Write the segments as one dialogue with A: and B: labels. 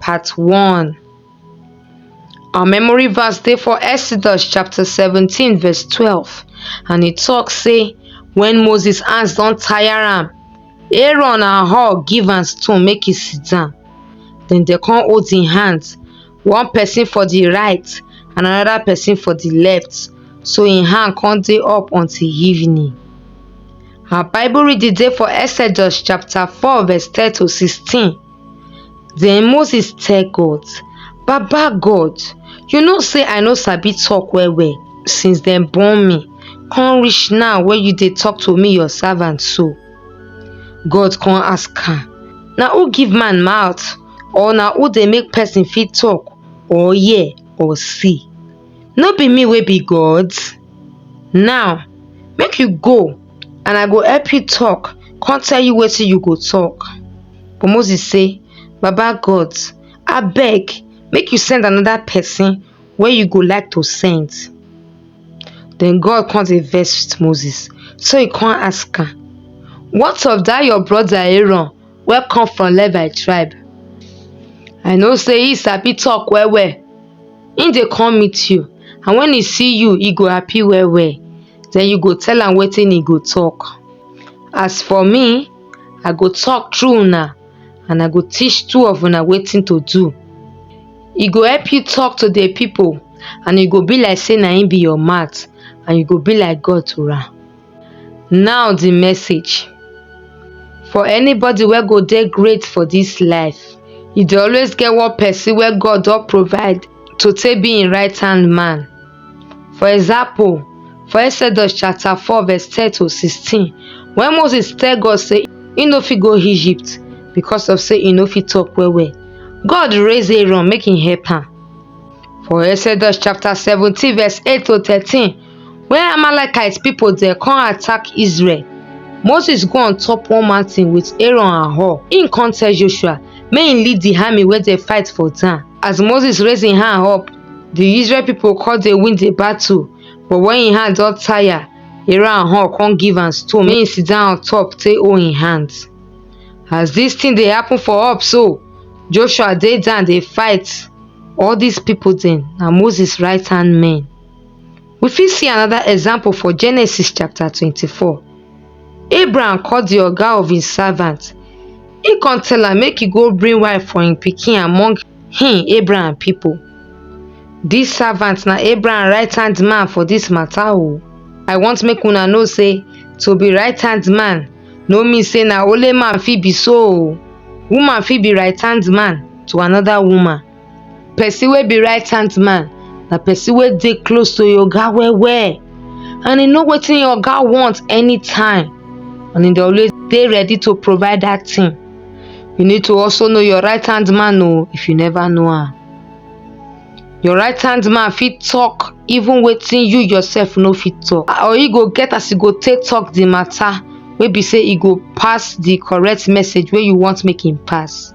A: Part 1 Our memory verse dey for Exodus chapter 17 verse 12 and e talk say when Moses hands don tire am, Aaron and Hur give am stone make e sit down. Then dem come hold im hands, one person for the right and another person for the left. So im hand come dey up until evening. Our Bible reading dey for Exodus chapter 4 verse 10 to 16. Den Moses tell God, Baba God, you know say I no sabi talk well well since dem born me, come reach now wey you dey talk to me your servant so. God come ask am, Na who give man mouth or na who dey make person fit talk or hear or see? no be me wey be god now make you go and i go help you talk con tell you wetin you go talk but moses say baba god abeg make you send another person wey you go like to send then god con dey vex with moses so he con ask am what of dat your brother aaron wey come from Levi tribe. I know sey he sabi talk well well. He dey come meet you and when he see you, he go happy well well. Den you go tell am wetin he go talk. As for me, I go talk through una and I go teach two of una wetin to do. He go help you talk to the people and he go be like sey na him be your mouth and you go be like God to am. Now di message for anybody wey go dey great for dis life e dey always get one person wey God don provide to take be im right hand man for example for exodus chapter four verse ten to sixteen when Moses tell God say im no fit go Egypt because of say im no fit talk well well God raise Aaron make im help am for exodus chapter seventeen verse eight to thirteen Wen Amalekite pipu dem come attack Israel, Moses go on top one mountain with Aaron and Hur. Im come tell Joshua make im lead the army wey dey fight for town. As Moses raise im hand up, the Israel pipu come dey win the battle. But when im hand don tire, Aaron and Hur come give am stone make im sit down on top take hold im hand. As this thing dey happen for up so, Joshua dey down dey fight. All these pipu dem na Moses right hand men. We fit see another example for Genesis chapter 24. Abraham call the oga of his servant. He come tell am make he go bring wife for him pikin among him Abraham people. This servant na Abraham right hand man for this matter o. I want make una know say to be right hand man no mean say na only man fit be so o. Woman fit be right hand man to another woman. Person wey be right hand man na person wey dey close to your oga well well and e know wetin your oga want anytime and e dey always dey ready to provide that thing. You need to also know your right hand man oh if you never know am. Your right hand man fit talk even wetin you yourself no fit talk or e go get as e go take talk the matter wey be say e go pass the correct message wey you want make e pass.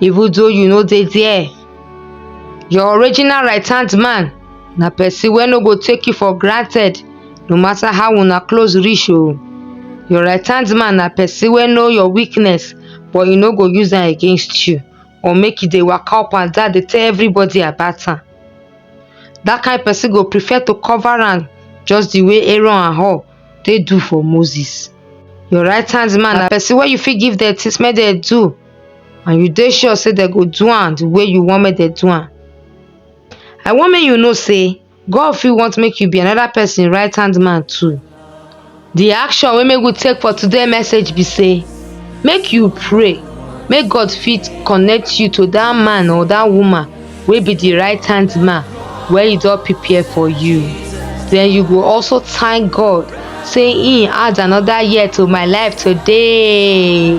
A: even though you no dey there your original right hand man na person wey no go take you for granted no matter how una close reach o your right hand man na person wey know your weakness but e no go use am against you or make e dey waka up and down dey tell everybody about am that kind person go prefer to cover am just the way aaron and hur take do for moses your right hand man na person wey you fit give dem things make dem do and you dey sure say dem go do am the way you want make dem do am i want make you know say god fit want make you be another person right hand man too the action wey make we take for today message be say make you pray make god fit connect you to that man or that woman wey be the right hand man wey he don prepare for you then you go also thank god say he add another year to my life today